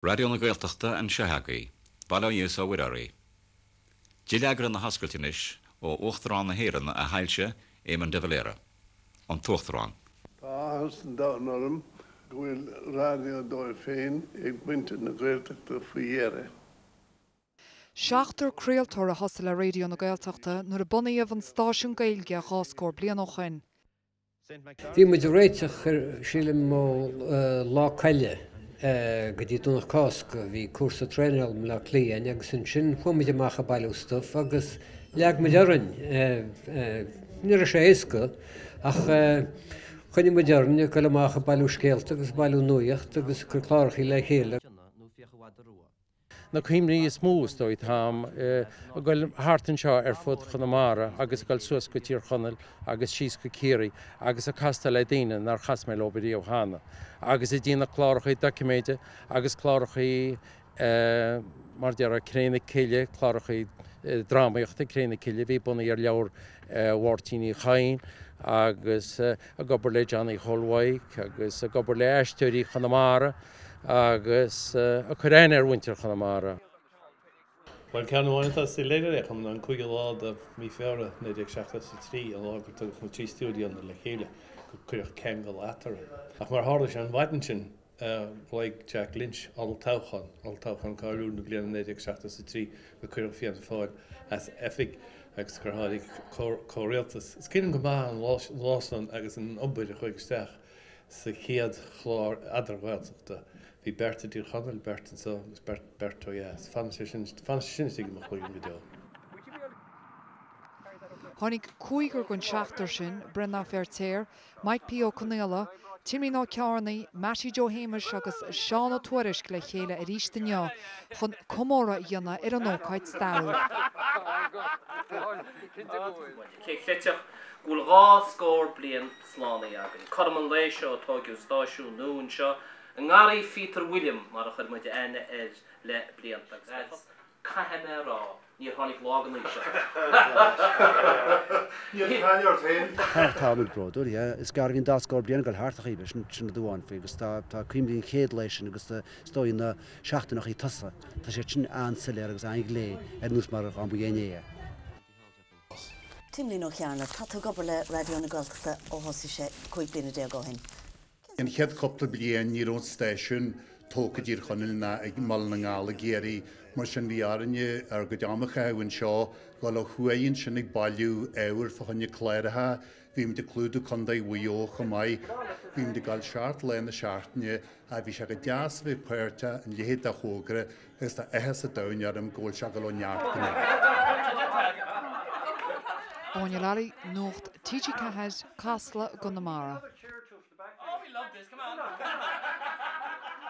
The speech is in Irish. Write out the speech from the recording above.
Raidió na Gaeltachta anseo agaibh, bail ó Dhia is ó Mhuire oraibh. Dileagra na hoscailte anois ó Uachtarán na hÉireann, A Shoilse, Éamon de Valera. An tUachtarán. Tá áthas an domhain orm go bhfuil raidió dóibh féin ag muintir na Gaeltachta faoi dheireadh. Seachtar craoltóir a thosaigh le Raidió na Gaeltachta nuair a bunaíodh an stáisiún Gaeilge dhá scór bliain ó shin. Bhí muid ag réiteach chuige, sílim ó Lá Caille go dtí Domhnach Cásca, bhí cúrsa traenála i mBleá Cliath a'inn agus ansin chuaigh muid amach ag bailiú stuff agus leag muid orainn, ní raibh sé éasca ach choinnigh muid orainn ag goil amach ag bailiú scéalta agus ag bailiú nuaíocht agus ag cur clárachaí le chéile. Na cuimhní is mó, is dóigh, atá a'm ag goil thart anseo ar fud Chonamara agus ag goil suas go Tír Chonaill agus síos go Ciarraí agus ag castáil le daoine nár chas mé leob riamh cheana agus ag déanamh clárachaí doiciméide agus clárachaí mar déarfá Cré na Cille, clárachaí drámaíochta, Cré na Cille a bhí bunaithe ar leabhar Mháirtín Uí Chadhain agus ag obair le Johnny Chóil Mhaidhc agus ag obair le Aisteoirí Chonamara. agus ag cur aithne ar mhuintir Chonamara. Bhuel, ceann amháin atá soiléir im cheann, an cúigiú lá de mhí Feabhra 1973, an lá gur tugadh na trí stiúideonna le chéile, gur cuireadh ceangal eatarthu. Ach mar a tharla sé an mhaidin sin, ghlaoigh Jack Lynch olltoghchán, olltoghchán cáiliúil na bliana 1973, gur cuireadh Fianna Fáil as oifig agus gur tháinig comhrialtas. Is cuimhin liom go maith an lá san agus an obair a chuaigh isteach. Sa chéad chlár eadar-Ghaeltachta, bhí beirt i dTír Chonaill, beirt anso agus beirt ó dheas. Fanann sé sin, fanann sé sin istigh i mo chuimhne go deo. Tháinig cúigear den seachtar sin, Breandán Feiritéar, Maidhc P. Ó Conaola, Timlín Ó Cearnaigh, Meaití Jó Shéamuis agus Seán Ó Tuairisg le chéile arís inniu chun comóradh a dhéanamh ar an ócáid stairiúil. Cé a chreidfeadh go bhfuil dhá scór bliain slánaithe againn. Cothrom an lae seo a tóigeadh stáisiún nua anseo i nGarraí Phíotair William mar a chuir muid aithne air le blianta agus ba chosúil, caithfidh mé a rá, níor tháinig lá den aois níor cailleadh ort fhéin. Tá muid bródúil, yeah. Is gearr a bhíonn dhá scór bliain ag dul thart ar chaoi ar bith, sin rud amháin faoi agus tá tá cuimhní an chéad lae sin agus is dóigh na seachtainneachaí tosaigh tá sé sin an-soiléir agus an-ghlé ar nós mar dhá mba inné é. Timlín Ó Cearnaigh, Tá tú ag obair le Raidió na Gaeltachta ó thosaigh sé 15 bliana ó shin. An chéad cúpla bliain ní raibh an stáisiún tógtha i dTír Chonaill ná i mBaile na nGall i gCiarraí, mar sin bhí orainne ár gcuid am a chaitheamh anseo, dul ó thuaidh ansin ag bailiú ábhair fá choinne cláracha. Bhí muid ag clúdú Contae Mhaigh Eo chomh maith. Bhí muid ag dul seacht lá na seachtaine ach bhí sé go deas a bheith páirteach ina leithéid de thógra Agus tá áthas an domhain orm go bhfuil sé ag dul ó neart go neart. Áine Lally, Nuacht TG4, Casla, i gConamara.